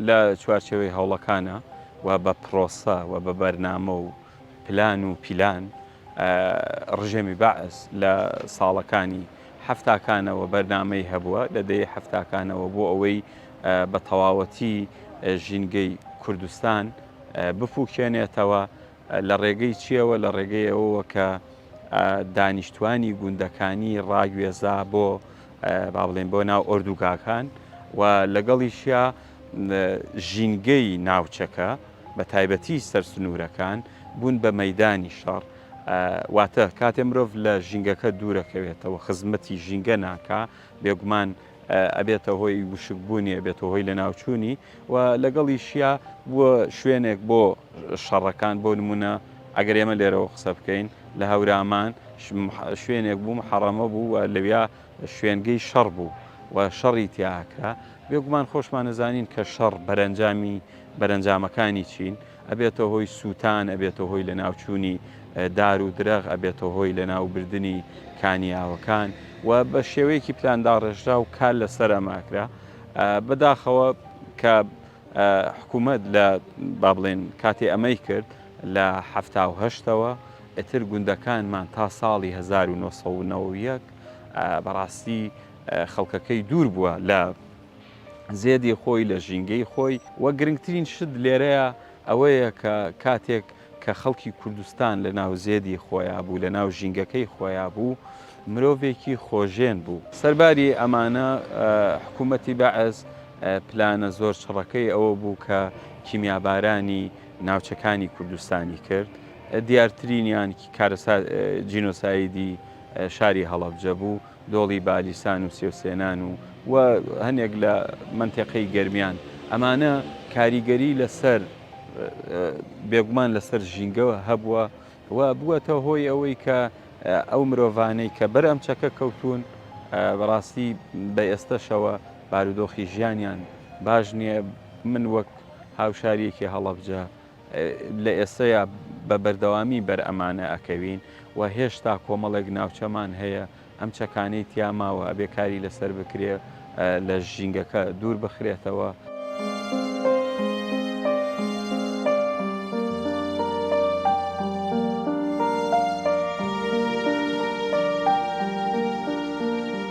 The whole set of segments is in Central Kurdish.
لە چوارچێوەی هەوڵەکانە و بە پرۆسە و بە بەرنامە و پلان و پیلان ڕژێمی بەعس لە ساڵەکانی حەفتاکانەوە بەرنامەی هەبووە لە دەیەی حەفتاکانەوە بۆ ئەوەی بە تەواوەتی ژینگەی کوردستان بپووکێنێتەوە. لە ڕێگەی چییەوە؟ لە ڕێگەی ئەوەوە کە دانیشتوانی گوندەکانی ڕاگوێزا بۆ با بڵێن بۆ ناو ئۆردوگاکان و لەگەڵیشیا ژینگەی ناوچەکە بە تایبەتی سەرسنوورەکان بوون بە مەدانی شەڕ واتە کاتێ مرۆڤ لە ژینگەکە دوورەکەوێتەوە خزمەتی ژینگە ناکا بێگومان ئەبێتە هۆی وشک بوونی ئەبێتە هۆی لەناوچوونی و لەگەڵیشیا بووە شوێنێک بۆ شەڕەکان بۆ نمونە ئەگەر ئێمە لێرەوە قسە بکەین لە هەورامان شوێنێک بوو محەڕەمە بوو و لەویا شوێنگەی شەڕ بوو و شەڕی تیاکرا بێگومان خۆشمان نەزانین کە شەڕ بەرەنجامی بەرەنجامەکانی چین ئەبێتە هۆی سووتان، ئەبێتە هۆی لەناوچوونی دار و درەخت، ئەبێتە هۆی لەناوبردنی کانیاوەکان و بە شێوەیەکی پلانداڕێژراو کار لەسەر ئەمە ئەکرا. بەداخەوە کە حکوومەت لە با بڵێن کاتێ ئەمەی کرد لە حەفتا و هەشتەوە ئیتر گوندەکانمان تا ساڵی هەزار و نۆ سەد و نەوەد و یەک بەڕاستی خەڵکەکەی دوور بووە لە زێدی خۆی لە ژینگەی خۆی و گرنگترین شت لێرەیە ئەوەیە کە کاتێک کە خەڵکی کوردستان لە ناو زێدی خۆیا بوو لە ناو ژینگەکەی خۆیا بوو مرۆڤێکی خۆژێن بوو. سەرباری ئەمانە حکوومەتی بەعس پلانە زۆر چڕەکەی ئەوە بوو کە کیمیابارانی ناوچەکانی کوردستانی کرد دیارترینیان کارەسات جینۆسایدی شاری هەڵەبجە بوو، دۆڵی بالیسان و سێوسێنان و و هەنێک لە مەنتێقەی گەرمیان ئەمانە کاریگەری لەسەر بێگومان لەسەر ژینگە هەبووە و بووەتە هۆی ئەوەی کە ئەو مرۆڤانەی کە بەر ئەم چەکە کەوتون بەڕاستی بە ئێستەشەوە بارودۆخی ژیانیان باش نییە من وەک هاوشاریەکی هەڵەبجە لە ئێستەیا بە بەردەوامی بەر ئەمانە ئەکەوین و هێشتا کۆمەڵێک ناوچەمان هەیە ئەم چەکانەی تیا ماوە ئەبێ کاری لەسەر بکرێ لە ژینگەکە دوور بخرێتەوە.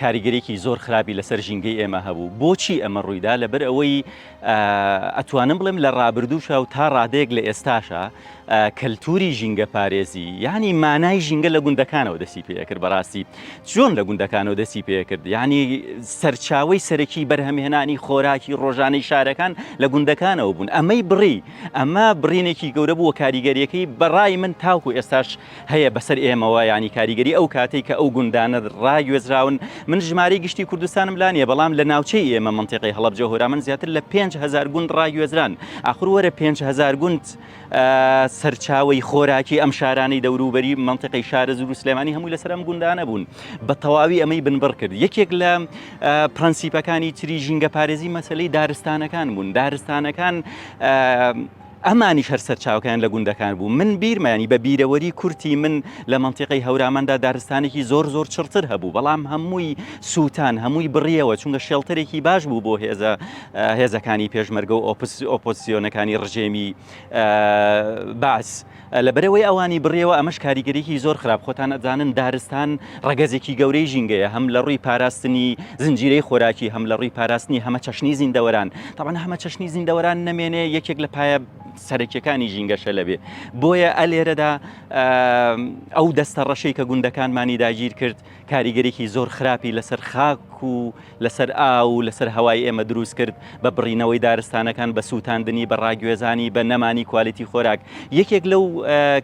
کاریگەریەکی زۆر خراپی لەسەر ژینگەی ئێمە هەبوو بۆچی ئەمە ڕوویدا لەبەر ئەوەی ئەتوانم بڵێم لە ڕابردووشە و تا ڕادەیەک لە ئێستاشە کەلتوری ژینگە پارێزی ینی مانای ژینگە لە گوندەکانەوە دەسی پێکرد بەڕاستی چۆن لە گوندەکانەوە دەسی پێکرد ینی سەرچاوی سەرەکی بەرهەمهێنانی خۆراکی ڕۆژانەی شارەکان لە گوندەکانەوە بوون ئەمەی بڕی ئەمە برینێکی گەورە بووە کاریگەریەکەی بەڕای من تاوکو ئێستاش هەیە بەسەر ئێمەوە یانی کاریگەری ئەو کاتەی کە ئەو گوندانە ڕاگوێزراون من ژمارەی گشتی کوردستانم لا نیە بەڵام لە ناوچەی ئێمە منتیقی هەڵەبجە هۆرامان زیاتر لە پێنج هزار گوند ڕاگوێزران ئاخر وەرە پێنج هزار گوند سەرچاوی خۆراکی ئەم شارانی دەوروبەری منتیقی شارز و سلێمانی هەمووی لەسەر ئەم گوندانە بوون بە تەواوی ئەمەی بنبڕ کرد یەکێک لە پرەنسیپەکانی تری ژینگە پارێزی مەسلەی دارستانەکان بوون دارستانەکان ئەمانیش هەر سەرچاوەکەیان لە گوندەکان بوو، من بیرمە یانی بە بیرەوەری کورتی من لە مەنتیقەی هەوراماندا دارستانێکی زۆر زۆر چڕتر هەبوو بەڵام هەمووی سووتان هەمووی بڕیەوە چونکە شێڵتەرێکی باش بوو بۆ هێزە هێزەکانی پێشمەرگە و ئۆپس ئۆپۆزسیۆنەکانی ڕژێمی بەعس. لە بەرەوەی ئەوانی بڕیەوە ئەمەش کاریگەریی زۆر خراپ خۆتان ئەزانن دارستان ڕەگەزێکی گەورەی ژینگەیە هەم لە ڕووی پاراستنی زنجیرەی خۆراکی هەم لە ڕووی پاراستنی هەمە چەشنی زیندەوەران تاوان هەمە چەشنی زیندەوەران نەمێنێ یەکێک لە پایە سەرەکیەکانی ژینگەشە لەبێ بۆیە ئەلێرەدا ئەو دەستە ڕەشەی کە گوندەکانمانی داگیر کرد کاریگەریی زۆر خراپی لەسەر خاک و لەسەر ئاو و لەسەر هەوای ئێمە دروست کرد، بە بڕینەوەی دارستانەکان، بە سووتاندنی، بە ڕاگوێزانی، بە نەمانی کوالیتی خۆراک. یەکێک لەو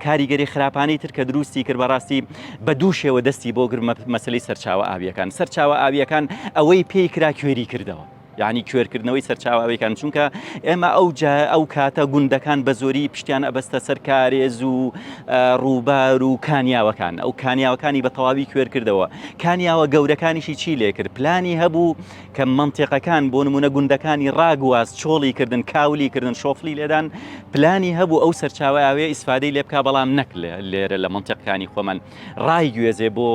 کاریگەری خراپانەی تر کە دروستی کرد، بەڕاستی بە دوو شێوە دەستی بۆ گرت، مەسەلەی سەرچاوە ئاوییەکان. سەرچاوە ئاوییەکان ئەوەی پێی کرا کوێری کردەوە. یانی کوێر کردنەوەی سەرچاوە ئەوێکان چونکە ئێمە ئەو ئەو کاتە گوندەکان بە زۆری پشتیان ئەبەستە سەر کارێز و ڕووبار و کانیاوەکان ئەو کانیاوەکانی بە تەواوی کوێر کردەوە کانیاوە گەورەکانیشی چی لێ کرد پلانی هەبوو کە منتێقەکان بۆ نمونە گوندەکانی ڕاگواز چۆڵی کردن کاولی کردن شۆفلی لێدان پلانی هەبوو ئەو سەرچاوە ئاوێ ئیسفادەی لێ بک بەڵام نەک لێرە لە منتێقەکانی خۆمان ڕایگوێزێ بۆ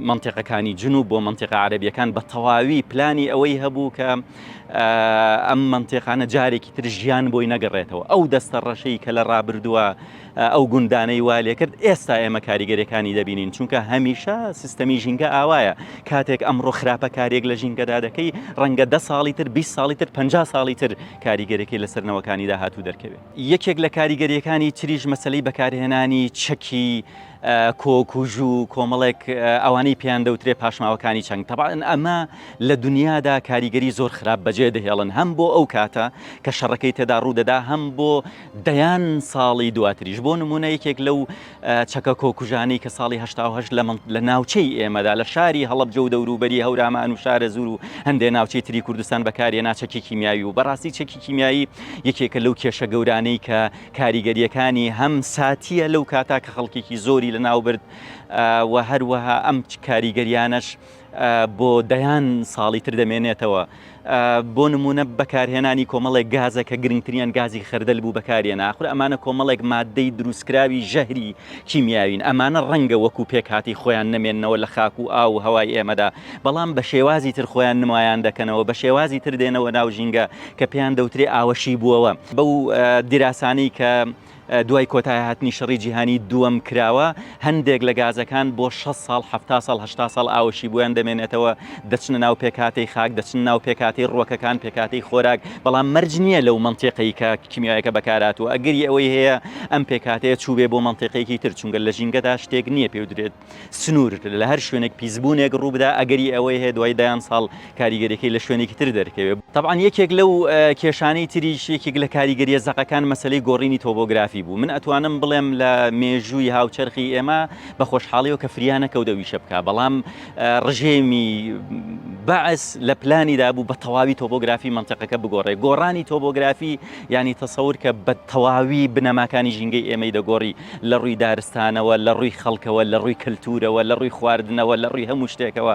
مەنتیقەکانی جنوب بۆ مەنتیقە عەربیەکان بە تەواوی پلانی ئەوەی هەبوو کە ئەم مەنتێقانە جارێکی تر ژیان بۆی نەگەڕێتەوە ئەو دەستە ڕەشەی کە لە ڕابردووە ئەو گوندانەی وا لێکرد ئێستا ئێمە کاریگەرەکانی دەبینین چونکە هەمیشە سیستەمی ژینگە ئاوایە کاتێک ئەمڕۆ خراپە کارێک لە ژینگەدا دەکەی ڕەنگە ده ساڵی تر 20 ساڵی تر 50 ساڵی تر کاریگەرەکەی لەسەرنەوەکانی داهاتوو دەرکەوێت. یەکێک لە کاریگەرییەکانی تریش مەسەلەی بەکارهێنانی چەکی کۆک و ژوو کۆمەڵێک ئەوانەی پێیان دەوترێ پاشماوەکانی چەنگ تەبان ئەمە لە دنیادا کاریگەری زۆر خراپ بەجێ دەهێڵن هەم بۆ ئەو کاتە کە شەڕەکەی تێدا ڕوودەدا هەم بۆ دەیان ساڵی دواتریش بۆ نمونە یەکێک لەو چەکە کۆکوژانەی کە ساڵی هەشتا و هەشت لە ناوچەی ئێمەدا لە شاری هەڵەبجە و دەوروبەری هەورامان و شارەزوور و هەندێ ناوچەی تری کوردستان بەکارهێنا چەکی کیمیاوی و بەڕاستی چەکی کیمیایی یەکێکە لەو کێشە گەورانەی کە کاریگەریەکانی هەم ساتیە لەو کاتا کە خەڵکێکی زۆری لەناوبرد و هەروەها ئەم کاریگەریانەش بۆ دەیان ساڵی تر دەمێنێتەوە. بۆ نموونە بەکارهێنانی کۆمەڵێک گازە کە گرنگتریان گازی خەردەل بوو بەکارێنا. ئاخر ئەمانە کۆمەڵێک ماددەی دروستکراوی ژەهری کیمیاوین. ئەمانە ڕەنگە وەکوو پێکهاتەی خۆیان نەمێننەوە لە خاک و ئاو و هەوای ئێمەدا، بەڵام بە شێوازی تر خۆیان نمایان دەکەنەوە، بە شێوازی تر دێنەوە ناو ژینگە کە پێیان دەوترێ ئاوەشیبووەوە. بەو دیراسانەی کە دوای کۆتایهاتنی شەڕی جیهانی دووەم کراوە، هەندێک لە گازەکان بۆ شەست ساڵ، حەفتا ساڵ، هەشتا ساڵ ئاوەشی بۆیان دەمێنێتەوە، دەچنە ناو پێکهاتەی خاک، دەچنە ناو پێکهاتەی ڕووەکەکان، پێکهاتەی خۆراک، بەڵام مەرج نییە لەو مەنتیقەی کە کیمیایەکە بەکارهاتووە، ئەگەری ئەوەی هەیە ئەم پێکهاتەیە چووبێ بۆ مەنتیقێکی تر، چونکە لە ژینگەدا شتێک نییە پێی بدرێت. سنوور لە هەر شوێنێک پیسبوونێک ڕووبدا ئەگەری ئەوەی هەیە دوای دەیان ساڵ کاریگەریەکەی لە شوێنێکی تر دەرکەوێت طبعاان یەکێک لەو کێشانەی تریش یەکێک لە کاریگەریە زەقەکان مەسلەی گۆڕینی تۆبۆگرافی بوو من ئەتوانم بڵێم لە مێژووی هاوچەرخی ئێمە بە خۆشحاڵیەوە کە فریانە کەوتەویشە بکە بەڵام ڕژێمی بەعس لە پلانی دابوو بە تەواوی تۆبۆگرافی منطقەکە بگۆڕێ گۆڕانی تۆبۆگرافی ینی تەسەور کە بە تەواوی بنەماکانی ژینگەی ئێمەی دەگۆڕی لە ڕووی دارستانەوە، لە ڕووی خەڵکەوە، لە ڕووی کەلتوورەوە، لە ڕووی خواردنەوە، لە ڕووی هەموو شتێکەوە.